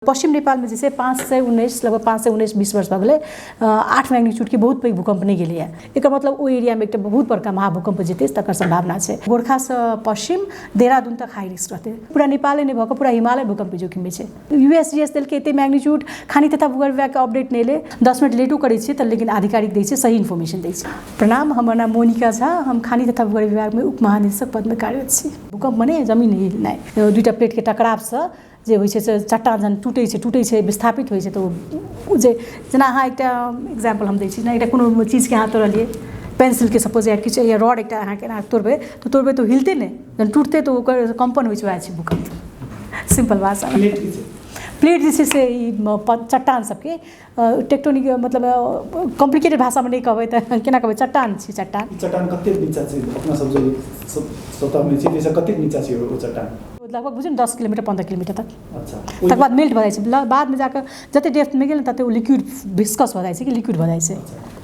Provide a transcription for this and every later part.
पश्चिम नेपालमे जे छै पाँच सय उन्नैस लगभग पाँच सय उन्नैस बीस वर्ष भऽ गेलै आठ मैग्नीट्यूडके बहुत पैघ भूकम्प नहि गेलैए एकर मतलब ओहि एरियामे एकटा बहुत बड़का महाभूकम्प जेतै तकर सम्भावना छै गोर्खासँ पश्चिम देहरादून तक हाई रिस्क रहतै पूरा नेपाले नहि भऽ कऽ पूरा हिमालय भूकम्प जोखिममे छै यू एस जी एस देलकै एतेक मैग्नीट्यूड खानी तथा भूगोल विभागके अपडेट नहि एलै दस मिनट लेटो करै छियै तऽ लेकिन आधिकारिक दै छै सही इन्फॉर्मेशन दै छै प्रणाम हमर नाम मोनिका झा हम खानी तथा भूगोल विभागमे उपमहानिदेशक पदमे कार्यरत छी भूकम्प मने जमीन हिलनाइ दुइटा प्लेटके टकरावसँ जे होइ छै से चट्टा जहन टूटै छै टूटै छै विस्थापित होइ छै तऽ ओ जे जेना अहाँ एकटा एक्जाम्पल हम दै छी जेना एकटा कोनो चीजके अहाँ तोड़लियै पेन्सिलके सपोज या किछु या रॉड एकटा अहाँके एना तोड़बै तऽ तोड़बै तऽ ओ हिलतै नहि जहन टूटतै तऽ ओकर कम्पन होइ छै वएह छै भूकम्प सिम्पल भाषामे प्लेट जे छै से ई चट्टान सभके टेक्टोनिक मतलब कॉम्प्लिकेटेड भाषा में नहीं कहबे तो केना कहबे चट्टान छी चट्टान चट्टान कते नीचा छी अपना सब जे स्वतः में छी जैसे कते नीचा छी वो चट्टान लगभग बुझियौ दस किलोमीटर पंद्रह किलोमीटर तक अच्छा तकर बाद मेल्ट भऽ जाइ छै बाद में जाकर जते डेप्थ में गेल तते ओ लिक्विड विस्कस भऽ जाइ छै कि लिक्विड भऽ जाइ छै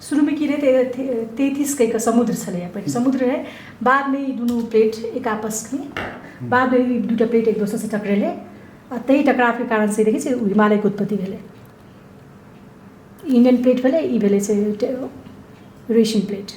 सुरुमे की रहै तैतीस कहिके समुद्र छलैए पहिने समुद्र रहै बादमे ई दुनू प्लेट एक आपसमे बादमे ई दूटा प्लेट एक दोसरसँ टकरेलै आ ताहि टकरावके कारण से देखै छै हिमालयके उत्पत्ति भेलै इंडियन प्लेट भेलै ई भेलै से रेशियन प्लेट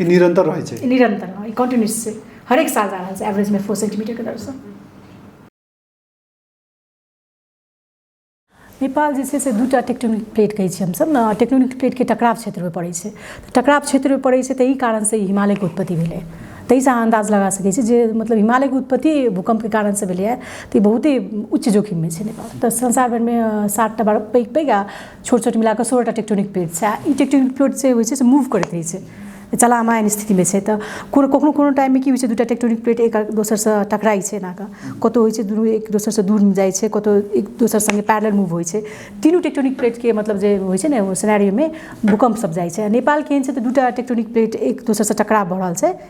ई निरंतर रहै छै ई निरंतर ई कंटिन्यूस छै हर एक साल जा रहल छै एवरेज में फोर सेंटीमीटर के दर से नेपाल जे छै से दूटा टेक्टोनिक प्लेट कहै छियै हमसभ ने टेक्टोनिक प्लेटके टकराव क्षेत्रमे पड़ै छै तऽ टकराव क्षेत्रमे पड़ै छै तऽ ई कारणसँ ई हिमालयके उत्पत्ति भेलै ताहिसँ अहाँ अन्दाज लगा सकै छी जे मतलब हिमालयके उत्पत्ति भूकम्पके कारणसँ भेलैए तऽ ई बहुते उच्च जोखिममे छै नेपाल तऽ संसार भरिमे सातटा बड़ा पैघ पैघ आ छोट छोट मिलाकऽ सोलहटा टेक्टोनिक प्लेट छै आओर ई टेक्टोनिक प्लेट जे होइ छै से मूव करैत रहै छै चलायमान स्थितिमे छै तऽ कोनो कखनो कोनो टाइममे की होइ छै दू टा टेक्टोनिक प्लेट एक दोसरसँ टकराइ छै एना कऽ कतौ होइ छै दुनू एक दोसरसँ दूर जाइ छै कतौ एक दोसर सङ्गे पैरेलल मूव होइ छै तीनू टेक्टोनिक प्लेटके मतलब जे होइ छै ने ओ सिनेरियोमे भूकम्प सब जाइ छै आओर नेपालके एहन छै तऽ दू टा टेक्टोनिक प्लेट एक दोसरसँ टकराव भऽ रहल छै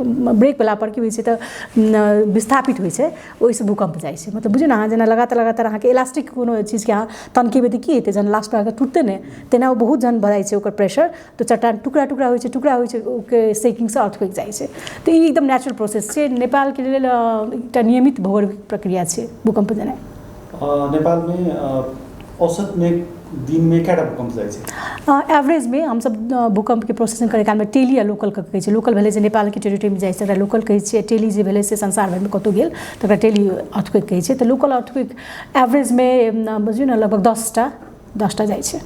ब्रेक वला पर की होइ छै तऽ विस्थापित होइ छै ओहिसँ भूकम्प जाइ छै मतलब बुझियौ ने अहाँ जेना लगातार लगातार अहाँके इलास्टिक कोनो चीजके अहाँ तमकेबै तऽ की हेतै जहन लास्ट मे अहाँके टुटतै ने तेना ओ बहुत जहन बढ़ै छै ओकर प्रेशर तऽ चट्टान टुकड़ा टुकड़ा होइ छै टुकड़ा होइ छै ओहिके सेकिंग सँ अर्थक्वेक जाइ छै तऽ ई एकदम नेचुरल प्रोसेस छै नेपालके लेल एकटा नियमित भौगोलिक प्रक्रिया छै भूकम्प जेनाइ नेपालमे औसतमे दिनमे कएटा भूकम्प जाइ छै एवरेजमे हमसब भूकम्पके प्रोसेसिंग करै कालमे टेली आ लोकल कऽ कहै छै लोकल भेलै जे नेपालके टेरिटरीमे जाइ छै तकरा लोकल कहै छियै टेली जे भेलै से संसार भरिमे कतहु गेल तकरा टेली अर्थक्वेक कहै छै तऽ लोकल अर्थक्वेक एवरेजमे बुझियौ ने लगभग दसटा दसटा जाइ छै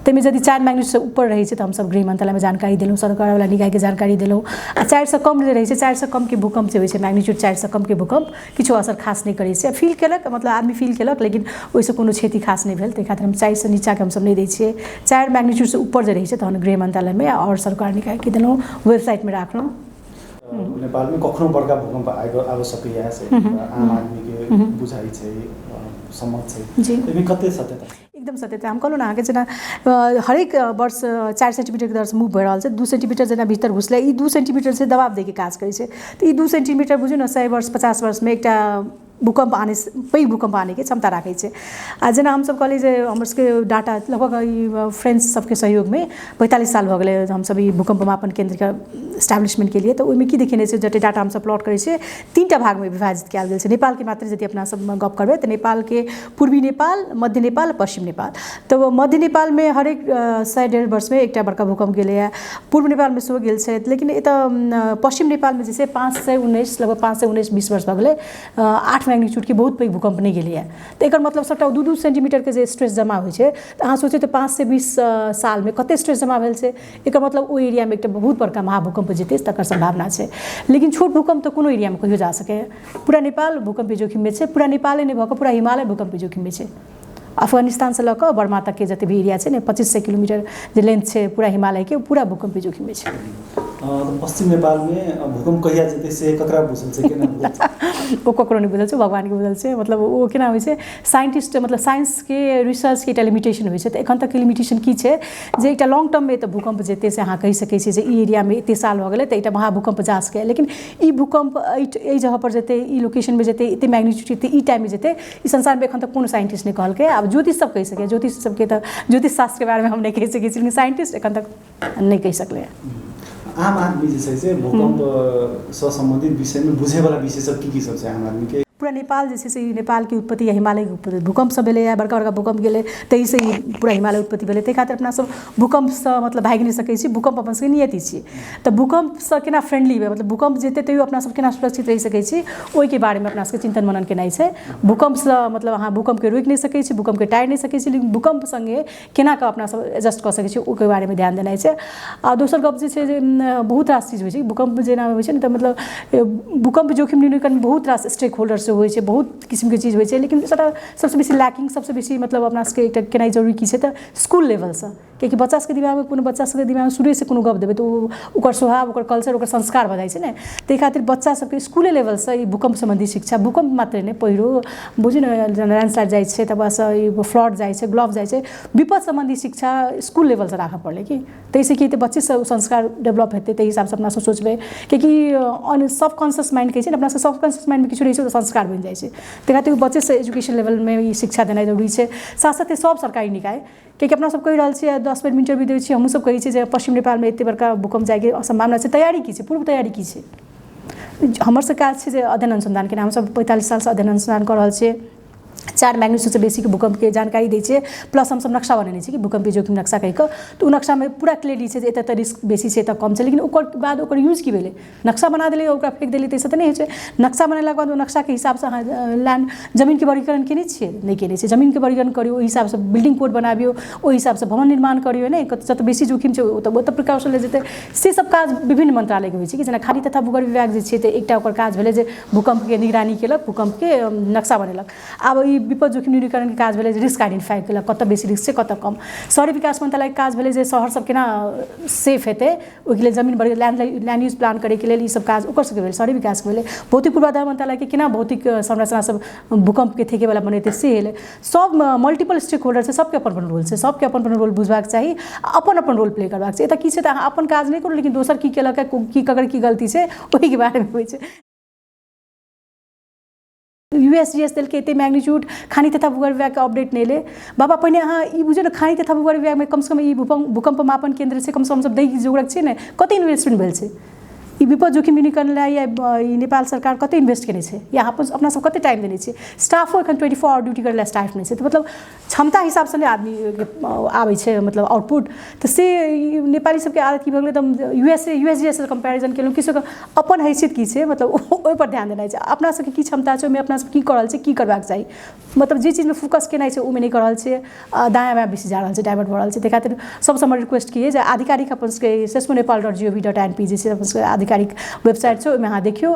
ताहिमे यदि चारि मैग्नेटसँ ऊपर रहै छै तऽ हमसभ गृह मन्त्रालयमे जानकारी देलहुँ सरकारवला निकायके जानकारी देलहुँ आ चारिसँ कम जे रहै छै चारिसँ कमके भूकम्प जे होइ छै मैग्नेट्यूड चारिसँ कमके भूकम्प किछो असर खास नहि करै छै फील केलक मतलब आदमी फील केलक लेकिन ओहिसँ कोनो क्षति खास नहि भेल ताहि खातिर हम चारिसँ नीचाँके हमसभ नहि दै छियै चारि मैग्नेट्यूडसँ ऊपर जे रहै छै तहन गृह मन्त्रालयमे आओर सरकार निकायके देलहुँ वेबसाइटमे राखलहुँ नेपालमै कखनो बड़का भूकम्प आबि आबि सकैए से आम आदमीके बुझाइ छै सम्मत छै एहिमे कते सत्यता एकदम सत्यता हम कहलहुँ ने अहाँके जेना हरेक वर्ष चारि सेन्टिमीटरके दरसँ मुभ भऽ रहल छै दू सेन्टिमीटर जेना भीतर घुसलै ई दू सेन्टिमीटर छै दबाब दैके काज करै छै तऽ ई दू सेन्टिमीटर बुझियौ ने सए वर्ष पचास वर्षमे एकटा भूकम्प आनै पैघ भूकम्प आनैके क्षमता राखै छै आओर जेना हमसब कहलिए जे हमर सबके डाटा लगभग ई फ्रेन्च सबके सहयोगमे पैँतालिस साल भऽ गेलै हमसब ई भूकम्प मापन केन्द्रके एस्टाब्लिशमेन्ट केलिए तऽ ओहिमे कि देखेने छै जतेक डाटा हमसब प्लॉट करै छिए तीनटा भागमे विभाजित कएल गेल छै नेपालके मात्र यदि अपनासब गप करबै तऽ नेपालके पूर्वी नेपाल मध्य नेपाल पश्चिम नेपाल तऽ मध्य नेपालमे हरेक सए डेढ़ वर्षमे एकटा बड़का भूकम्प गेलैए पूर्व नेपालमे सेहो गेल छथि लेकिन एतय पश्चिम नेपालमे जे छै पाँच सए उन्नैस लगभग पाँच सए उन्नैस बीस वर्ष भऽ गेलै आठ मैग्नीच्यूडके बहुत पैघ भूकम्प नहि गेलैए तऽ एकर मतलब सभटा दू दू सेंटीमीटरके जे स्ट्रेस जमा होइत छै तऽ अहाँ सोचू तऽ पाँच सए बीस सालमे कतेक स्ट्रेस जमा भेल छै एकर मतलब ओहि एरियामे एकटा बहुत बड़का महाभूकम्प जे हेतै तकर सम्भावना छै लेकिन छोट भूकम्प तऽ कोनो एरियामे कहिओ जा सकैए पुरा नेपाल भूकम्पी जोखिममे छै पुरा नेपाले नहि भऽ कऽ पुरा हिमालय भूकम्पी जोखिममे छै अफगानिस्तानसँ लऽ कऽ बर्मा तकके जतेक भी एरिया छै ने पच्चीस सय किलोमीटर जे लेन्थ छै पूरा हिमालयके पूरा भूकम्पी जोखिममे छै पश्चिम नेपालमे भूकम्प कहिया जेतै से ककरा बुझल छै केना ओ ककरो नहि बुझल छै भगवानके बुझल छै मतलब ओ केना होइ छै साइंटिस्ट मतलब साइंसके रिसर्चके एकटा लिमिटेशन होइ छै तऽ एखन तक लिमिटेशन की छै जे एकटा लॉन्ग टर्ममे तऽ भूकम्प जेतै से अहाँ कहि सकै छियै जे ई एरियामे एतेक साल भऽ गेलै तऽ एकटा महाभूकम्प जा सकैए लेकिन ई भूकंप एहि एहि जगह पर जेतै ई लोकेशन पर जेतै एते मैग्नीट्यूड जेतै ई टाइम में जेतै ई संसार में एखन तक कोनो साइंटिस्ट नहि कहलकै आब ज्योतिष सब कहि सकैए ज्योतिष सबके तऽ ज्योतिष शास्त्र के बारे में हम नहि कहि सकै छी लेकिन साइंटिस्ट एखन तक नहि कहि सकलै आम आदमी जे छै से भूकंप से संबंधित विषय में बुझे वाला विषय सब की की सब छै आम आदमी के पूरा नेपाल जे छै से नेपाल के उत्पत्ति या हिमालय के उत्पत्ति भूकंप सब भेलैए बड़का बड़का भूकंप गेलै ताहि से पूरा हिमालय उत्पत्ति भेलै ताहि खातिर अपना सब भूकंप से मतलब भागि नहि सकै छी भूकंप अपन सबके नियति छियै तऽ भूकम्पसँ केना फ्रेंडली हेबै मतलब भूकम्प जेतै तैयो अपना सब केना सुरक्षित रहि सकै छी ओइके बारेमे अपना सबके चिन्तन मनन केनाइ छै भूकम्पसँ मतलब अहाँ भूकम्पके रोकि नहि सकै छी भूकम्पके टाड़ि नहि सकै छी लेकिन भूकम्प सङ्गे केना कऽ अपना सब एडजस्ट कऽ सकै छी ओइके बारेमे ध्यान देनाइ छै आओर दोसर गप जे छै जे बहुत रास चीज होइ छै भूकम्प जेना होइ छै ने तऽ मतलब भूकम्प जोखिम न्यूनीकरण बहुत रास स्टेक होल्डर सब होइ छै बहुत किसिमके चीज होइ छै लेकिन सबटा सबसँ बेसी लैकिंग सबसँ बेसी मतलब अपना सबके एकटा केनाइ जरूरी की छै तऽ इसकुल लेवलसँ किएकि बच्चा सबके दिमागमे कोनो बच्चा सबके दिमागमे शुरूएसँ कोनो गप देबै तऽ ओ ओकर स्वभाव ओकर कल्चर ओकर संस्कार भऽ जाइ छै ने ताहि खातिर बच्चा सबके स्कूले लेवलसँ ई भूकम्प सम्बन्धी शिक्षा भूकम्प मात्रे नहि पहिरो बुझू ने जेना लैंडस्लाइड जाइ छै तकर बादसँ ई फ्लड जाइ छै ग्लॉफ जाइ छै विपद सम्बन्धी शिक्षा स्कूल लेवलसँ राखऽ पड़लै कि ताहिसँ की हेतै बच्चे सब संस्कार डेवलप हेतै ताहि हिसाबसँ अपना सब सोचबै किएकि ऑन सब कॉन्शियस माइंड कहै छै ने अपना सब सब कॉन्शियस माइंडमे किछु रहै छै तऽ संस्कार बनि जाइ छै ताहि खातिर बच्चेसँ एजुकेशन लेवलमे ई शिक्षा देनाइ जरूरी छै साथ साथे सब सरकारी निकाय कियाकि अपना सब कहि रहल छियै दस बेर इंटरव्यू दै छियै हमहूँ सब कहै छियै जे पश्चिम नेपालमे एते बड़का भूकंप जायके सम्भावना छै तैयारी की छै पूर्व तैयारी की छै हमर सब काज छै जे अध्ययन अनुसंधान केना हमसब पैंतालिस सालसँ अध्ययन अनुसंधान कऽ रहल छियै चारि मैग्नीट्यूडसँ बेसीके भूकंपके जानकारी दै छियै प्लस हमसब नक्शा बनेने छियै कि भूकंपी जोखिम नक्शा कहि कऽ तऽ ओ नक्शामे पूरा क्लियरली छै जे एतऽ एतऽ रिस्क बेसी छै एतऽ कम छै लेकिन ओकर बाद ओकर यूज की भेलै नक्शा बना देलियै ओकरा फेक देलियै ताहिसँ तऽ नहि होइ छै नक्शा बनेलाके बाद ओ नक्शाके हिसाबसँ अहाँ लैण्ड जमीनके वर्गीकरण केने छियै नहि केने छियै जमीनके वर्गीकरण करियौ ओहि हिसाबसँ बिल्डिंग कोड बनाबियौ ओहि हिसाबसँ भवन निर्माण करियौ ने जतऽ बेसी जोखिम छै ओतऽ ओतऽ प्रिकॉशन लेल जेतै से सब काज विभिन्न मंत्रालयके होइ छै कि जेना खाली तथा भूगर्भ विभाग जे छै तऽ एकटा ओकर काज भेलै जे भूकम्पके निगरानी केलक भूकम्पके नक्शा बनेलक आब ई विपद जोखिम न्यूनीकरणके काज भेलै जे रिस्क आइडेंटिफाई केलक कतऽ बेसी रिस्क छै कतऽ कम शहरी विकास मंत्रालयके काज भेलै जे शहर सब केना सेफ हेतै ओहिके लेल जमीन बढ़ि लैंड लैंड यूज प्लान करैके लेल ईसभ काज ओकर सभके भेल शहरी विकासके भेलै भौतिक पूर्वाधार मंत्रालयके केना भौतिक संरचना सभ भूकंपके थेकेवला बनेतै से एलै सभ मल्टीपल स्टेक होल्डर छै सभके अपन अपन रोल छै सभके अपन अपन रोल बुझबाक चाही आ अपन अपन रोल प्ले करबाक छै एतय की छै तऽ अहाँ अपन काज नहि करू लेकिन दोसर की केलक की ककर की गलती छै ओहिके बारेमे होइ छै युएसजिएस देलकै एते मैग्नीच्यूड खानी तथा भूगर्भ विभाग के अपडेट नहीं ले बाबा पहिने अहाँ ई बुझियौ ने खानी तथा भूगर्भ विभाग में कम से कम ई भूकंप भूकंप मापन केंद्र से कम से कम सब दै जोगरक छै ने कते इन्वेस्टमेंट भेल छै ई विपद जोखिम न्यूनीकरण लए या ई नेपाल सरकार कते इन्वेस्ट केने छै या अपन अपना सब कते टाइम देने छै स्टाफो एखन ट्वेंटी फोर आवर ड्यूटी करै लए स्टाफ नहि छै तऽ मतलब क्षमता हिसाबसँ नहि आदमीके आबै छै मतलब आउटपुट तऽ से ई नेपाली सबके आदत की भऽ गेलै तऽ U S A U S G S comparison केलहुँ कि से ओकर अपन हैसियत की छै मतलब ओ- ओहिपर ध्यान देनाइ छै अपना सबके की क्षमता छै ओहिमे अपना सब की कऽ रहल छियै की करबाक चाही मतलब जे चीजमे फोकस केनाइ छै ओहिमे नहि कऽ रहल छियै आ दायाँ बायाँ बेसी जा रहल छै डाइवर्ट भऽ रहल छै ताहि खातिर सबसँ हमर रिक्वेस्ट की अइ जे आधिकारिक अपन सबके सेसो Nepal dot G O V dot N P जे छै अपन सबके आधिकारिक वेबसाइट छै ओहिमे अहाँ देखियौ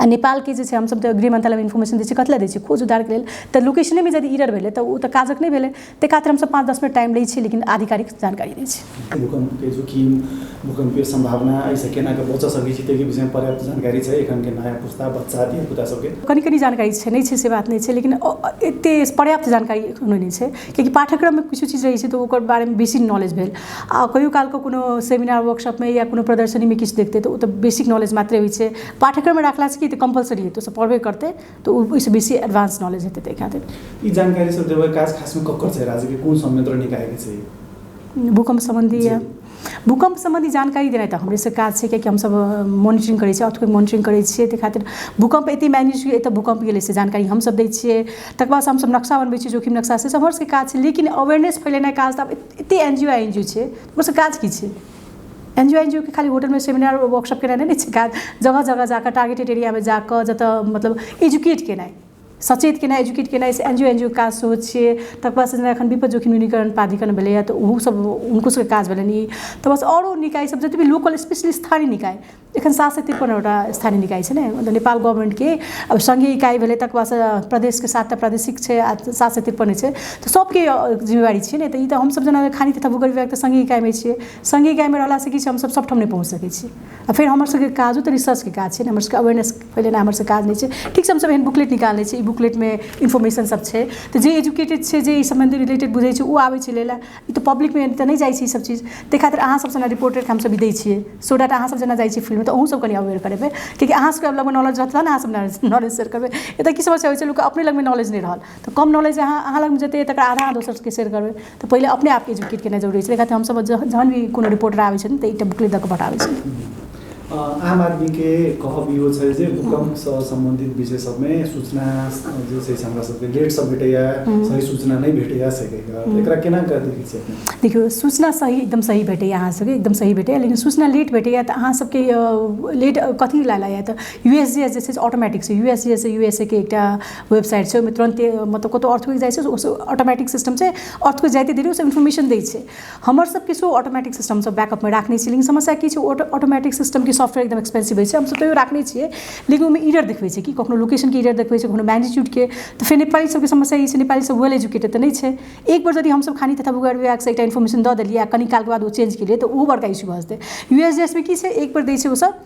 आ नेपालके जे छै हमसभ तऽ गृह मन्त्रालयमे इन्फॉर्मेशन दै छियै कथि लए दै छियै खोज उद्धारके लेल तऽ लोकेशनेमे यदि ईरर भेलै तऽ ओ तऽ काजक नहि भेलै ताहि खातिर हमसभ पाँच दस मिनट टाइम लै छियै लेकिन आधिकारिक जानकारी दै छियै भूकंपके जोखिम भूकंपके संभावना एहिसँ केना कऽ बचऽ सकै छी ताहिके विषयमे पर्याप्त जानकारी छै एखनके नया पुस्ता बच्चा धिया पुता सभके कनि कनि जानकारी छै नहि छै से बात नहि छै लेकिन अ- अ- एते पर्याप्त जानकारी एखनो नहि छै कियाकि पाठ्यक्रममे किछु चीज रहै छै तऽ ओकर बारेमे बेसी नॉलेज भेल आ कहियो काल कऽ कोनो सेमिनार वर्कशॉपमे या कोनो प्रदर्शनीमे किछु देखतै तऽ ओ तऽ बेसिक नॉलेज मात्रे होइत छै पाठ्यक्रममे रखलासँ की हेतै कम्पलसरी हेतै ओसभ पढ़बे करतै तऽ ओ ओहिसँ बेसी एडवांस नॉलेज हेतै ताहि खातिर ई जानकारी सब देबै काज खासमे ककर छै राज्यके कोन संयंत्र निकायके छै भूकम्प सम्बन्धी या भूकम्प सम्बन्धी जानकारी देनाइ तऽ हमरेसँ काज छै कियाकि हमसभ मॉनिटरिंग करै छियै अर्थके मॉनिटरिंग करै छियै ताहि खातिर भूकम्प एतहि मानि लिअ जे एतय भूकम्प गेलै से जानकारी हमसभ दै छियै तकर बादसँ हमसभ नक्शा बनबै छियै जोखिम नक्शा सेसभ हमरसभके काज छै लेकिन अवेयरनेस फैलेनाइ काज तऽ आब एते N G O N G ओ छै ओकर काज की छै N G O N G ओ के खाली होटलमे सेमिनार वर्कशॉप केनाइ नहि छै काज जगह जगह जाकऽ टारगेटेड एरियामे जाकऽ जतऽ मतलब एजुकेट केनाइ सचेत केनाइ एजुकेट केनाइ से N G O N G ओ के काज सेहो छियै तकर बाद जेना एखन विपत जोखिम न्यूनीकरण प्राधिकरण भेलैए तऽ ओहो सब हुनको सबके काज भेलनि ई तऽ बस आओरो निकाय सब जते भी लोकल स्पेशली स्थानीय निकाय एखन सात सय तिरपनवटा स्थानीय निकाय छै ने मतलब नेपाल गवर्नमेन्टके अब सङ्घीय इकाइ भेलै तकर बादसँ प्रदेशके सातटा प्रादेशिक छै आ सात सय तिरपन छै तऽ सभके जिम्मेवारी छियै ने तऽ ई तऽ हमसभ जेना खाली तथा भूगोल विभाग तऽ सङ्घीय इकाइमे छियै सङ्घीय इकाइमे रहलासँ की छै हमसभ सभठाम नहि पहुँच सकै छियै आ फेर हमरसभके काजो तऽ रिसर्चके काज छै ने हमरसभके अवेयरनेस फैलेनाइ हमरसभके काज नहि छै ठीक छै हमसभ एहन बुकलेट निकालने छी ई बुकलेटमे इन्फॉर्मेशनसभ छै तऽ जे एजुकेटेड छै जे एहि सम्बन्धी रिलेटेड बुझैत छै ओ आबैत छै लै लेल ई तऽ पब्लिकमे तऽ नहि जाइ छै ई सब चीज ताहि खातिर अहाँ सब जेना रिपोर्टर के हमसब ई दै छियै सो डेट अहाँ सब जेना जाइ छियै फिल्ड मे तऽ अहूँ सब कनी अबेर करेबै किएकि अहाँ सबके लग मे नॉलेज रहत तहन ने अहाँ सब नॉलेज शेयर करबै एतऽ की समस्या होइ छै लोक के अपने लग मे नॉलेज नहि रहल तऽ कम नॉलेज अहाँ अहाँ लग मे जते अछि तकरा आधा अहाँ दोसर सबके शेयर करबै तऽ पहिले अपने आप के एजुकेट केनाइ जरुरी छै ताहि खातिर हमसब जहन भी कोनो रिपोर्टर आबै छथिन तऽ एकटा बुकलेट दऽ कऽ पठाबै छियनि आम आदमी के कहब इहो छै जे भूकंप से संबंधित विषय सब में सूचना जे छै से हमरा सबके लेट से भेटैया सही सूचना नहीं भेटैया से एकरा केना कर दी छै देखियो सूचना सही एकदम सही भेटैया अहाँ सबके एकदम सही भेटैया लेकिन सूचना लेट भेटैया तऽ अहाँ सबके लेट कथी ला लाया तऽ यूएसजीएस जे छै से ऑटोमेटिक से यूएसजीएस से यूएसए के एकटा वेबसाइट छै ओहिमे तुरंते मतलब कतौ अर्थक्वेक जाइ छै ऑटोमेटिक सिस्टम छै अर्थक्वेक जाइते देरी ओसब इन्फॉर्मेशन दै छै हमर सब किछु ऑटोमेटिक सिस्टम सब बैकअपमे राखने छी लेकिन समस्या की छै ओ ऑटोमेटिक सिस्टमके सॉफ्टवेयर एकदम एक्सपेन्सिव होइ छै हमसब तैओ राखने छिए लेकिन ओहिमे एरर देखबै छै कि कखनो लोकेशनके एरर देखबै छै कखनो मैग्नीट्यूडके तऽ फेर नेपाली सबके समस्या ई छै नेपालीसब वेल एजुकेटेड तऽ नहि छै एक बेर जदि हमसब खाली एकटा इन्फॉर्मेशन दऽ देलिए आओर कनी कालके बाद ओ चेन्ज केलिए तऽ ओहो बड़का इश्यू भऽ जेतै यू एस जी एस मे की छै एक बेर दै छै ओसब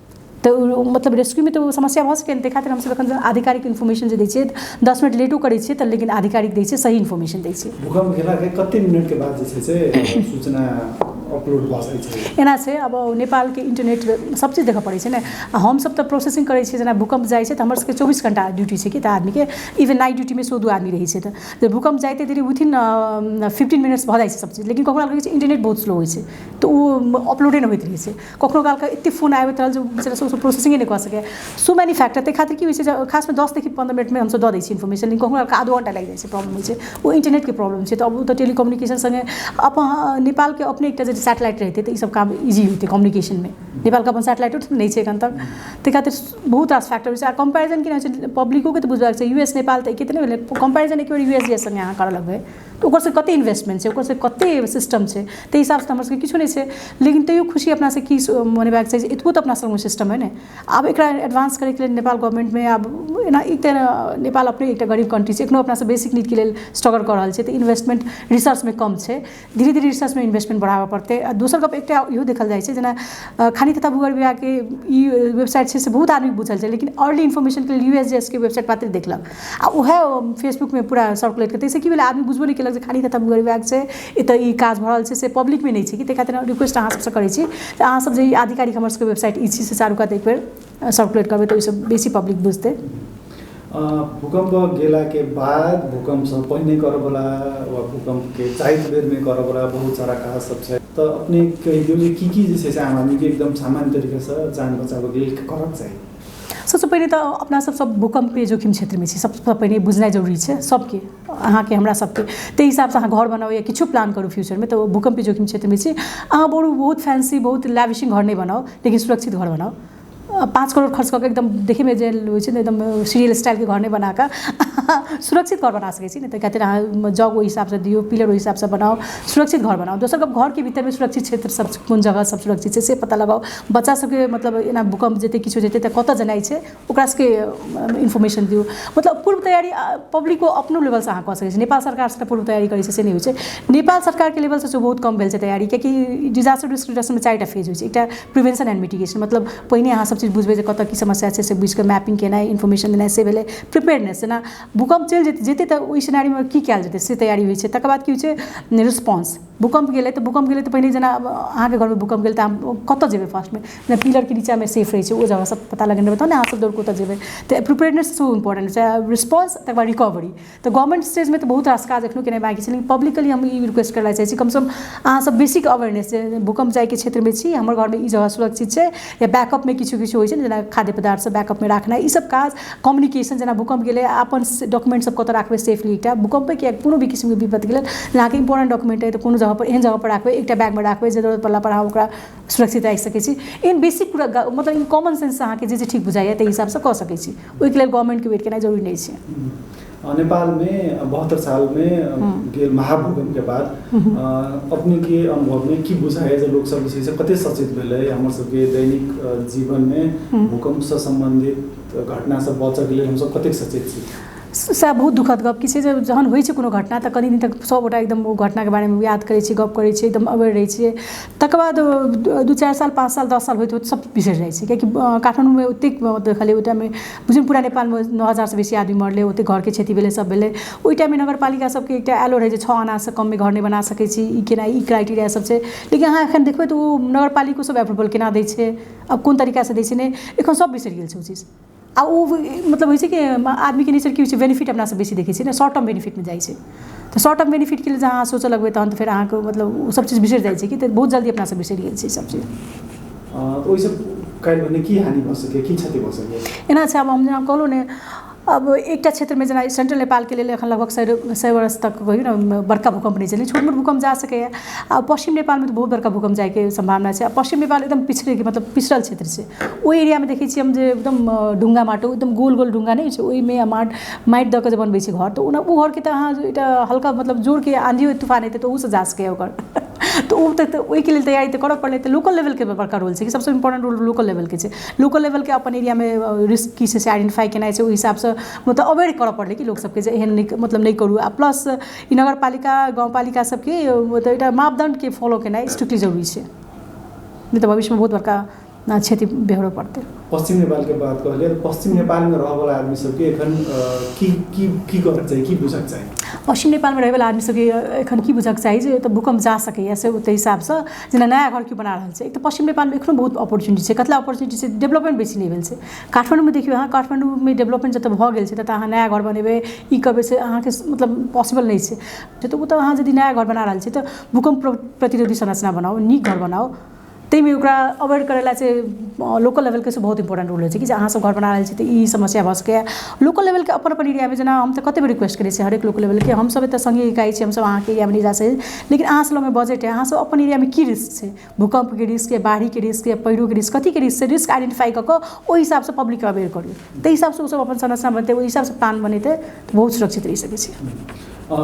तऽ मतलब रेस्क्यूमे तऽ ओ समस्या भऽ सकैए ने ताहि खातिर हमसभ एखन आधिकारिक इन्फॉर्मेशन जे दै छियै दस मिनट लेटो करै छियै तऽ लेकिन आधिकारिक दै छियै सही इन्फॉर्मेशन दै छियै भूकंप भेलाके कते मिनटके बाद जे छै से सूचना अपलोड भऽ सकै छै एना छै अब नेपालके इन्टरनेट सब चीज देखऽ पड़ै छै ने आ हमसभ तऽ प्रोसेसिंग करै छियै जेना भूकंप जाइ छै तऽ हमर सभके चौबीस घंटा ड्यूटी छै कि तऽ आदमीके इवन नाइट ड्यूटीमे सेहो दू आदमी रहै छै तऽ जे भूकंप जाइते देरी विथिन फिफ्टीन मिनट्स भऽ जाइ छै सब चीज लेकिन कखनो काल की होइ छै इन्टरनेट बहुत स्लो होइ छै तऽ ओ अपलोडे नहि होइत रहै छै कखनो कालके एतेक फोन आबैत रहल जे बेचारा सभसँ प्रोसेसिंगे नहि कऽ सकैए सो मैनी फैक्टर ताहि खातिर की होइ छै जे खासमे दससँ पन्द्रह मिनटमे हमसभ दऽ दै छियै इन्फॉर्मेशन लेकिन कखनो कालके आधो घंटा लागि जाइ छै प्रॉब्लम होइ छै ओ इन्टरनेटके प्रॉब्लम छै तऽ आब ओ तऽ टेलिकम्युनिकेशन सङ्गे अपन नेपालके अपने एकटा जे सैटेलाइट रहितै तऽ ईसभ काम इजी होइतै कम्युनिकेशनमे नेपालके अपन सैटेलाइटो तऽ नहि छै एखन तक ताहि खातिर बहुत रास फैक्टर छै आ कम्पेरिजन केना होइ छै पब्लिकोकेँ तऽ बुझबाक चाही यू एस नेपाल तऽ एके तऽ नहि भेलै कम्पेरिजन एके बेर यू एस जी एस सङ्गे अहाँ करय लगबै तऽ ओकर सबके कते इन्वेस्टमेन्ट छै ओकर सबके कते सिस्टम छै तै हिसाबसँ तऽ हमर सबके किछो नहि छै लेकिन तैयो खुशी अपना सबके की छै मनेबाक चाही जे एतबो तऽ अपना सबमे सिस्टम अइ ने आब एकरा एडवान्स करैके लेल नेपाल गवर्नमेन्टमे आब एना ई तऽ नेपाल अपने एकटा गरीब कन्ट्री छै एखनो अपना सब बेसिक नीडके लेल स्ट्रगल कऽ रहल छियै तऽ इन्वेस्टमेन्ट रिसर्चमे कम छै धीरे धीरे रिसर्चमे इन्वेस्टमेन्ट बढ़ाबऽ पड़तै आओर दोसर गप एकटा इहो देखल जाइ छै जेना खाली कतऽ भूगोल विभागके ई वेबसाइट छै से बहुत आदमीके बुझल छै लेकिन आओर भी इन्फॉर्मेशनके लिए यू एस जी एस के वेबसाइट मात्र देखलक आ उएह फेसबुकमे पूरा सर्कुलेट करै ताहिसँ की भेलै आदमी बुझबो नहि केलक जे खाली कतय मुँहगर बैग छै एतय ई काज भऽ रहल छै से पब्लिकमे नहि छै कि ताहि खातिर हम रिक्वेस्ट अहाँसभसँ करै छी जे अहाँसभ जे ई आधिकारिक हमरसभके वेबसाइट ई छी से चारू कात एक बेर सर्कुलेट करबै तऽ ओहिसँ बेसी पब्लिक बुझतै भूकम्प गेलाके बाद भूकम्पसँ पहिने करऽवला वा भूकम्पके जाइत बेरमे करऽवला बहुत सारा काज सब छै तऽ अपने कहि दियौ जे की की जे छै से आम आदमीके एकदम सामान्य तरीकासँ जान बचाबऽके लेल करऽके चाही सभसँ पहिने तऽ अपना सभ सभ भूकम्पीय जोखिम क्षेत्रमे छी सभसँ पहिने ई बुझनाइ जरूरी छै सभके अहाँके हमरा सभके ताहि हिसाबसँ अहाँ घर बनाउ या किछो प्लान करू फ्यूचरमे तऽ ओ भूकम्पीय जोखिम क्षेत्रमे छी अहाँ बहुत बहुत फैंसी बहुत लैविशिंग घर नहि बनाउ लेकिन सुरक्षित घर बनाउ पाँच करोड़ खर्च कऽ कऽ एकदम देखयमे जे होइत छै ने एकदम सीरियल स्टाइलके घर नहि बना कऽ सुरक्षित घर बना सकैत छी ने ताहि खातिर अहाँ जग ओहि हिसाबसँ दियौ पिलर ओहि हिसाबसँ बनाउ सुरक्षित घर बनाउ दोसर गप्प घरके भीतरमे सुरक्षित क्षेत्रसभ कोन जगहसभ सुरक्षित छै से पता लगाउ बच्चा सबके मतलब एना भूकम्प जेतै किछु जेतै तऽ कतऽ जेनाइ छै ओकरा सबके इन्फॉर्मेशन दियौ मतलब पूर्व तैयारी आओर पब्लिको अपनो लेवलसँ अहाँ कऽ सकै छी नेपाल सरकार सबटा पूर्व तैयारी करै छै से नहि होइ छै नेपाल सरकारके लेवलसँ सेहो बहुत कम भेल छै तैयारी किएक कि डिजास्टर रिस्क रिडक्शनमे चारिटा फेज होइ छै एकटा प्रिवेन्शन एन्ड मिटिगेशन मतलब पहिने अहाँ सबचीज बुझबै जे कतऽ की समस्या छै से बुझिकऽ मैपिंग केनाइ इन्फॉर्मेशन देनाइ से भेलै प्रिपेयर्डनेस जेना भूकम्प चलि जेतै तऽ ओइ सिनेरियोमे की कयल जेतै से तैयारी होइ छै तकर बाद की होइ छै रिस्पांस भूकम्प गेलै तऽ भूकम्प गेलै तऽ पहिने जेना अहाँके घरमे भूकम्प गेल तऽ अहाँ कतऽ जेबै फर्स्टमे जेना पिलरके निचाँमे सेफ रहै छै ओ जगह सब पता लगेने रहबै तहन ने अहाँ सब दौड़ कऽ ओतऽ जेबै तऽ एप्रोप्रिएटनेस सेहो इम्पोर्टेन्ट छै रिस्पांस तकर बाद रिकवरी तऽ गवर्नमेन्ट स्टेजमे तऽ बहुत रास काज एखनो केनाइ बाँकी छै लेकिन पब्लिकके लिए हम ई रिक्वेस्ट करऽ चाहै छी कम सँ कम अहाँ सब बेसिक अवेयरनेस जे भूकम्प जाइके क्षेत्रमे छी हमर घरमे ई जगह सुरक्षित छै या बैकअपमे किछो किछो होइ छै ने जेना खाद्य पदार्थ सब बैकअपमे राखनाइ ई सब काज कम्युनिकेशन जेना भूकम्प गेलै अपन डॉक्युमेन्ट सब कतऽ राखबै सेफ्ली एकटा भूकम्पे किएक कोनो भी किसिमके विपत गेलै जेनाकि इम्पोर्टेन्ट डॉक्युमेन्ट अइ तऽ कोनो जगहपर एहन जगहपर राखबै एकटा बैगमे राखबै जे जरूरत पड़लापर अहाँ ओकरा सुरक्षित राखि सकै छी एहन बेसिक पूरा मतलब ई कॉमन सेन्ससँ अहाँके जे जे ठीक बुझाइए तै हिसाबसँ कऽ सकै छी ओइके लेल गवर्नमेन्टके वेट केनाइ जरूरी नहि छै नेपाल में बहत्तर साल में हम्म। महाभूकंप के बाद हम्म। अपने के अनुभव में की बुझा है लोग सब विषय से कते सचेत भेल है हमर सब के दैनिक जीवन में हम्म। भूकंप से संबंधित घटना सब बचक लिए हम सब कते सचेत छी सएह बहुत दुखद गप कि छै जे जहन होइ छै कोनो घटना तऽ कनि दिन तक सभगोटा एकदम ओ घटनाके बारेमे याद करै छियै गप करै छियै एकदम अबैर रहै छियै तकर बाद दू चारि साल पाँच साल दस साल होइत होइत सभ बिसरि जाइ छै कियाकि काठमाण्डूमे ओतेक देखलियै ओहि टाइममे बुझियौ ने पूरा नेपालमे नओ हजारसँ बेसी आदमी मरलै ओतै घरके क्षति भेलै सभ भेलै ओहि टाइममे नगरपालिका सभके एकटा आयलो रहै जे छओ आनासँ कममे घर नहि बना सकै छी ई केना ई क्राइटेरिया सभ छै लेकिन अहाँ एखन देखबै तऽ ओ नगरपालिको सभ एप्रूवल केना दै छै आ कोन तरीकासँ दै छै नहि एखन सभ बिसरि गेल छै ओ चीज आ ओ मतलब होइ छै कि आदमीके नेचर की होइ छै बेनिफिट अपना सभ बेसी देखै छियै ने शॉर्ट टर्म बेनिफिटमे जाइ छै तऽ शॉर्ट टर्म बेनिफिटके लेल जँ अहाँ सोचऽ लगबै तहन तऽ फेर अहाँके मतलब ओ सब चीज बिसरि जाइ छै कि तऽ बहुत जल्दी अपना सब बिसरि जाइ छै ई सब चीज अ, तऽ ओहिसँ काल्हि भने की हानि भऽ सकैए की क्षति भऽ सकैए एना छै आब हम जेना कहलहुँ ने अब एकटा क्षेत्रमे जेना सेंट्रल नेपालके लेल एखन लगभग सए सए वर्ष तक कहियो ने बड़का भूकम्प नहि चललै छोट मोट भूकम्प जा सकैए आ पश्चिम नेपालमे तऽ बहुत बड़का भूकम्प जायके सम्भावना छै आ पश्चिम नेपाल एकदम पिछड़े मतलब पिछड़ल क्षेत्र छै ओहि एरियामे देखै छियै हम जे एकदम अ, ढुंगा माटो एकदम गोल गोल ढुंगा नहि होइ छै ओहिमे आ माट माटि दऽ कऽ जे बनबै छी घर तऽ ओना ओ घरके तऽ अहाँ एकटा हल्का मतलब जोरके आँधियो तूफान एतै तऽ ओहूसँ जा सकैए ओकर तऽ ओ तऽ तऽ ओहिके लेल तैयारी तऽ करय पड़लै तऽ लोकल लेवलके बड़का रोल छै कि सभसँ इम्पोर्टेन्ट रोल लोकल लेवलके छै लोकल लेवलके अपन एरियामे रिस्क की छै से आइडेंटिफाइ केनाइ छै ओहि हिसाबसँ मतलब अवेयर करय पड़लै कि लोकसभके जे एहन नहि मतलब नहि करू आ प्लस ई नगर पालिका गाम पालिका सभके मतलब एकटा मापदण्डके फॉलो केनाइ स्ट्रिक्टली जरूरी छै नहि तऽ भविष्यमे बहुत बड़का ना क्षति बेहोरो पड़ते पश्चिम नेपाल के बात कहलिए तो पश्चिम नेपाल में रह वाला आदमी सबके एखन अ, की की की करक चाहिए की बुझक चाहिए पश्चिम नेपालमे रहैवला आदमी सबके एखन की बुझक चाही जे तऽ भूकम्प जा सकैए से ओहि हिसाबसँ जेना नया घर केओ बना रहल छै एक तऽ पश्चिम नेपालमे एखनो बहुत अपॉर्चुनिटी छै कतला अपॉर्चुनिटी छै डेवलपमेंट बेसी नहि भेल छै काठमाण्डूमे देखियौ अहाँ काठमाण्डूमे डेवलपमेंट जतऽ भऽ गेल छै ततऽ अहाँ नया घर बनेबै ई करबै से अहाँके मतलब पॉसिबल नहि छै तऽ ओतऽ अहाँ यदि नया घर बना रहल छी तऽ भूकम्प प्र- प्रतिरोधी संरचना बनाउ नीक घर बनाउ ताहिमे ओकरा अवॉइड करै लए से लोकल लेवलके से बहुत इम्पोर्टेन्ट रोल रहै छै कि जे अहाँ सभ घर बना रहल छी तऽ ई समस्या भऽ सकैया लोकल लेवलके अपन अपन एरियामे जेना हम तऽ कते बेर रिक्वेस्ट करै छियै हरेक लोकल लेवलके हम सभ एतऽ सङ्गे इकाइ छी हम सभ अहाँके एरियामे नहि जा सकै छी लेकिन अहाँ सभ लगमे बजट अछि अहाँ सभ अपन एरियामे की रिस्क छै भूकम्पके रिस्क अछि बाढ़िके रिस्क अछि पानिके रिस्क अछि कथीके रिस्क अछि रिस्क आइडेन्टिफाइ कऽ कऽ ओहि हिसाबसँ पब्लिकके अवॉइड करियौ ताहि हिसाबसँ ओसभ अपन संरचना बनतै ओहि हिसाबसँ प्लान बनेतै तऽ बहुत सुरक्षित रहि सकै छै अ,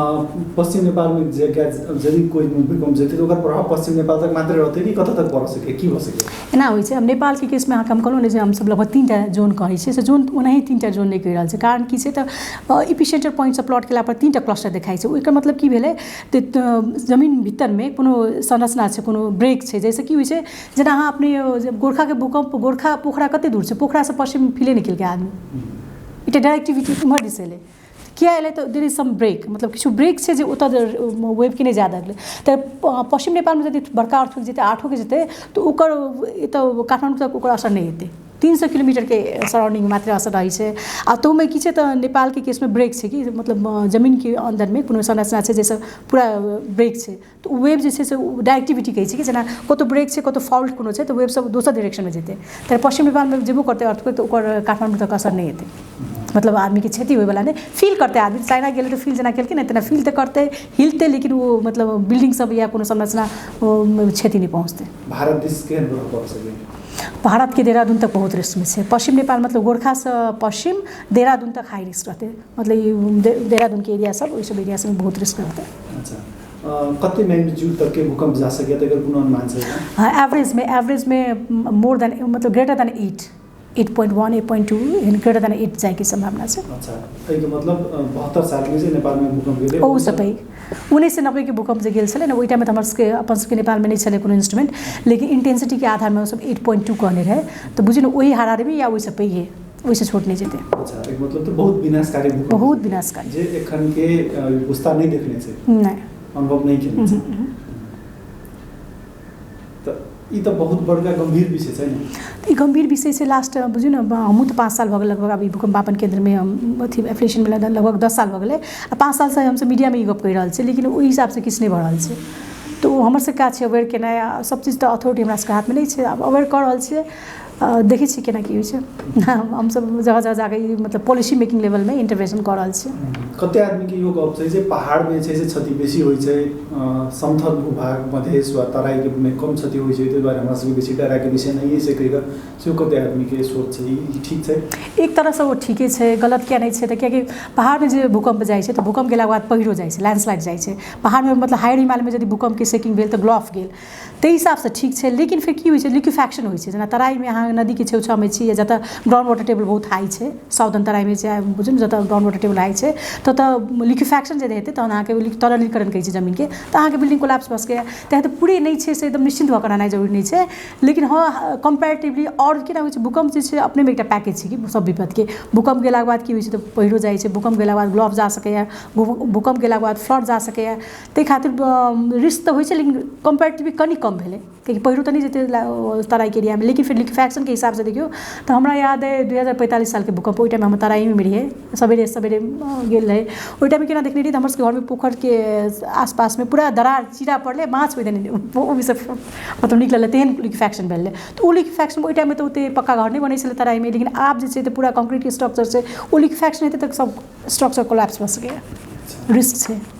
पश्चिम नेपाल में जे गैस यदि कोई भूकंप जेते तो ओकर प्रभाव पश्चिम नेपाल तक मात्र रहते कि कतऽ तक पड़ सके की हो सके एना होइ छै आब नेपालके केसमे अहाँके हम कहलहुँ ने जे हमसभ लगभग तीन टा जोन कहै छियै से जोन ओनाही तीन टा जोन नहि कहि रहल छै कारण की छै तऽ इपी सेंटर पॉइंटसँ प्लॉट केला पर तीन टा क्लस्टर देखाइ छै ओहिके मतलब की भेलै तऽ तऽ जमीन भीतरमे कोनो संरचना छै कोनो ब्रेक छै जाहिसँ की होइ छै जेना अहाँ अपने जे गोरखाके भूकम्प गोरखा पोखरा कतेक दूर छै पोखरासँ पश्चिम फिले नहि केलकै आदमी एकटा डाइरेक्टिविटी एम्हर दिस एलै किया एलै तऽ देर इज सम ब्रेक मतलब किछु ब्रेक छै जे ओतऽ वेवके नहि जाए देलकै तऽ पश्चिम नेपालमे यदि बड़का अर्थक जेतै आठोके जेतै तऽ ओकर एतऽ काठमाण्डू तक ओकर असर नहि हेतै तीन सए किलोमीटरके सराउंडिंग मात्र असर रहै छै आ तहुमे की छै तऽ नेपालके केसमे ब्रेक छै कि मतलब जमीनके अन्दरमे कोनो संरचना छै जाहिसँ पूरा ब्रेक छै तऽ ओ वेव जे छै से ओ डाइरेक्टिविटी कहै छै कि जेना कतहु ब्रेक छै कतहु फॉल्ट कोनो छै तऽ वेव सब दोसर डाइरेक्शनमे जेतै तऽ पश्चिम नेपालमे जेबो करतै अर्थके तऽ ओकर काठमाण्डू तक असर नहि हेतै मतलब आदमीके क्षति होइवला नहि फील करतै आदमी चाइना गेलै तऽ फील जेना केलकै ने तेना फील तऽ करतै हिलतै लेकिन ओ मतलब बिल्डिंग सब या कोनो संरचना क्षति नहि पहुँचतै भारत दिस केहन प्रभाव पड़ि सकैए भारतके देहरादून तक बहुत रिस्कमे छै पश्चिम नेपाल मतलब गोरखासँ पश्चिम देहरादून तक हाई रिस्क रहतै मतलब ई देहरादूनके एरिया सब ओहि सब एरिया सबमे बहुत रिस्क रहतै अच्छा कति म्याग्निच्युड तक के भूकंप जा सके तो कोनो अनुमान से हाँ एवरेज में एवरेज में मोर देन मतलब greater than eight eight point one eight point two and greater than eight जाए की संभावना से अच्छा तो एहिके मतलब बहत्तर साल में से नेपाल में भूकंप गेले ओ सब है उन्नीस सौ नब्बे के भूकंप जो गेल छलै ने ओहि टाइममे तऽ हमर सबके अपन सबके नेपालमे नहि छलै कोनो इंस्ट्रूमेंट लेकिन इंटेंसिटीके आधारमे ओसभ एट पॉइंट टू कहने रहै तऽ बुझियौ ने ओहि हाराहारीमे या ओहिसँ पैघे ओहिसँ छोट नहि जेतै अच्छा एक मतलब तो बहुत विनाशकारी भूकंप बहुत विनाशकारी जे एखन के अ, विस्तार नहीं देखने से नहि अनुभव नहीं केने उहुं, से उहुं। तो ई तो बहुत बड़का गंभीर विषय छै ने तऽ ई गम्भीर विषय से लास्ट बुझू ने बा- हमहूँ तऽ पाँच साल भऽ गेल लगभग अभी भूकम्पापन केन्द्रमे हम अथी एफिलेशन भेला तऽ लगभग दस साल भऽ गेलै आ पाँच सालसँ हमसब मीडियामे ई गप्प कहि रहल छियै लेकिन ओहि हिसाबसँ किछु नहि भऽ रहल छै तऽ ओ हमर सबके काज छै अवेयर केनाइ आ सब चीज तऽ अथॉरिटी हमरा सबके हाथमे नहि छै आब अवेयर कऽ रहल छियै आ देखै छी केना की होइ छै हमसभ जगह जगह जाकऽ ई मतलब पॉलिसी मेकिंग लेवलमे इंटरवेंशन कऽ रहल छी कते आदमी के इहो गप छै जे पहाड़ मे छै से क्षति बेसी होइ छै अ, समथल भूभाग मधेश वा तराई के मे कम क्षति होइ छै ताहि दुआरे हमरा सबके बेसी डरा के विषय नहि छै कहि कऽ सेहो कते आदमी के सोच छै ई ठीक छै एक तरहसँ ओ ठीके छै गलत किया नहि छै तऽ कियाकि पहाड़मे जे भूकम्प जाइ छै तऽ भूकम्प गेलाके बाद पहीरो जाइ छै लैंडस्लाइड जाइ छै पहाड़मे मतलब हायर हिमालयमे यदि भूकम्पके सेकिंग भेल तऽ ग्लॉफ गेल ताहि हिसाबसँ ठीक छै लेकिन फेर की होइ छै लिक्विफेक्शन होइ छै जेना तराइमे अहाँ नदीके छेउ छाउमे छी या जतऽ ग्राउण्ड वाटर टेबल बहुत हाइ छै साउदर्न तराइमे छै बुझू ने जतऽ ग्राउण्ड वाटर टेबल हाइ छै ततऽ लिक्विफेक्शन यदि हेतै तहन अहाँके लिक तरलीकरण कहै छै जमीनके तऽ अहाँके बिल्डिंग कोलैप्स भऽ सकैए तहन तऽ पूरे नहि छै से एकदम निश्चिन्त भऽ कऽ रहनाइ जरूरी नहि छै लेकिन हँ कम्पैरेटिवली आओर की ने होइ छै भूकम्प जे छै अपनेमे एकटा पैकेज छै कि सब विपत्तिके भूकम्प गेलाके बाद की होइ छै तऽ पइरो जाइ छै भूकम्प गेलाके बाद ब्लॉक जा सकैए भूकम्प गेलाके बाद फ्लड जा सकैए ताहि खातिर रिस्क तऽ होइ छै लेकिन कम्पेरेटिवली कनि कम भेलै कियाकि पहिरो तऽ नहि जेतै तराइके एरियामे लेकिन फेर लिक्विफैक्शनके हिसाबसँ देखियौ तऽ हमरा याद अइ दू हजार पैंतालिस सालके भूकम्प ओहि टाइममे हम तराइएमे रहियै सवेरे सवेरे गेल रही ओहि टाइममे केना देखने रही तऽ हमरसभके घरमे पोखरिके आसपासमे पूरा दरार चीरा पड़लै माछ ओहिदिन ओहिसँ मतलब निकललै तेहन लिक्विफैक्शन भेल रहै तऽ ओ लिक्विफैक्शन ओहि टाइममे तऽ ओतेक पक्का घर नहि बनैत छलै तराइमे लेकिन आब जे छै तऽ पूरा कॉन्क्रीटके स्ट्रक्चर छै ओ लिक्विफैक्शन हेतै तऽ सभ स्ट्रक्चर कोलैप्स भऽ सकैए रिस्क छै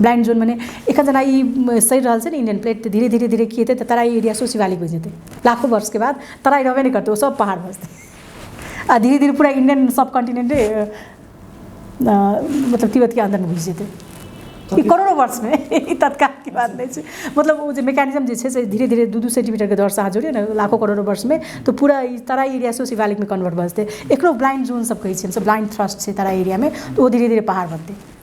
ब्लाइन्ड जोन मने एखन जेना ई सड़ि रहल छै ने इण्डियन प्लेट तऽ धीरे धीरे धीरे की हेतै तऽ तराइ एरिया सेहो शिवालिक बनि जेतै लाखो वर्षके बाद तराइ रहबे नहि करतै ओ सब पहाड़ भऽ जेतै आ धीरे धीरे पूरा इण्डियन सब कॉन्टिनेन्टे मतलब तिब्बतके अन्दरमे घुसि जेतै ई करोड़ो वर्षमे ई तत्कालके बात नहि छै मतलब ओ जे मैकेनिज्म जे छै से धीरे धीरे दू दू सेन्टीमीटरके दौरसँ अहाँ जोड़ियौ ने लाखो करोड़ो वर्षमे तऽ पूरा ई तराइ एरिया सेहो शिवालिकमे कन्वर्ट भऽ जेतै एकरो ब्लाइन्ड जोन सब कहै छियै हमसब ब्लाइन्ड थ्रस्ट छै तराइ एरियामे तऽ ओ धीरे धीरे पहाड़ बनतै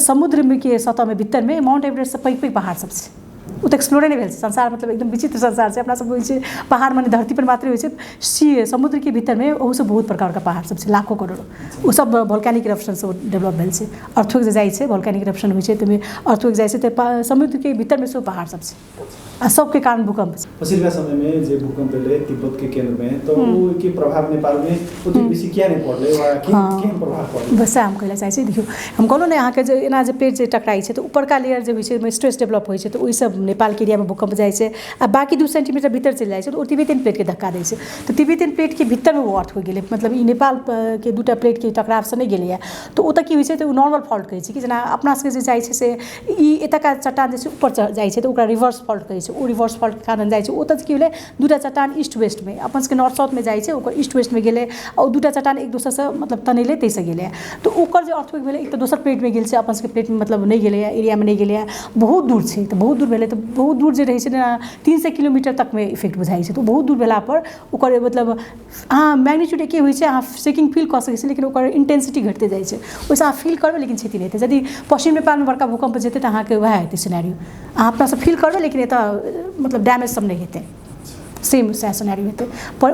समुद्रके सतहमे भीतरमे माउन्ट एवरेस्टसँ पैघ पैघ पहाड़ सभ छै ओ तऽ एक्सप्लोरे नहि भेल छै संसार मतलब एकदम विचित्र संसार छै अपना सभ बुझै छियै पहाड़ मने धरती पर मात्रे होइ छै सी समुद्रके भीतरमे ओहूसँ बहुत बड़का बड़का पहाड़ सभ छै लाखो करोड़ो ओ सभ वोल्केनिक इरप्शनसँ डेवलप भेल छै अर्थो जे जाइ छै वोल्केनिक इरप्शन होइ छै ताहिमे अर्थो जाइ छै तऽ समुद्रके भीतरमे सेहो पहाड़ सभ छै अशोक के कारण भूकंप छै। पछिलका समय मे जे भूकंप एलै तिब्बत के केंद्र मे त ओहि के प्रभाव नेपाल मे ओतेक बेसी किया नहि पड़लै वा केहन प्रभाव पड़लै। बस सएह हम कहै ले चाहै छी देखियौ हम कहलहुँ ने अहाँ के जे एना जे पेड़ जे टकराइ छै त ऊपरका लेयर जे होइ छै ओहिमे स्ट्रेस डेवलप होइ छै त ओहि सं नेपाल के एरिया मे भूकंप जाइ छै आ बाकी दू सेंटीमीटर भीतर चलि जाइ छै त ओ तिब्बतियन प्लेट के धक्का दै छै त तिब्बतियन प्लेट के भीतर मे ओ अर्थ हो गेलै मतलब ई नेपाल के दूटा प्लेट के टकराव सं नहि गेलैया त ओतय की होइ छै त ओ नॉर्मल फॉल्ट कहै छै कि जेना अपना सबके जे जाइ छै से ई एतुका चट्टान जे छै ऊपर चढ़ि जाइ छै तऽ ओकरा रिवर्स फॉल्ट कहै छै ओ रिवर्स फॉल्टके कारण जाइ छै ओतऽ की भेलै दूटा चट्टान ईस्ट वेस्टमे अपन सबके नॉर्थ साउथमे जाइ छै ओकर ईस्ट वेस्टमे गेलै आओर ओ दूटा चट्टान एक दोसरसँ मतलब टनैले ताहिसँ गेलैए तऽ ओकर जे अर्थक्वेक भेलै एक तऽ दोसर प्लेटमे गेल छै अपन सबके प्लेटमे मतलब नहि गेलैए एरियामे नहि गेलैए बहुत दूर छै तऽ बहुत दूर भेलै तऽ बहुत दूर जे रहै छै ने तीन सए किलोमीटर तकमे इफेक्ट बुझाइ छै तऽ ओ बहुत दूर भेलापर ओकर मतलब अहाँ मैग्नीच्यूड एक्के होइ छै अहाँ शेकिंग फील कऽ सकै छियै लेकिन ओकर इन्टेन्सिटी घटिते जाइ छै ओहिसँ अहाँ फील करबै लेकिन क्षति नहि हेतै यदि पश्चिम नेपालमे बड़का भूकम्प जेतै तऽ अहाँके उएह हेतै सिनेरियो अहाँ अपनासँ फील करबै लेकिन एतय मतलब डैमेजसभ नहि हेतै सेम सएह सिनेरियो हेतै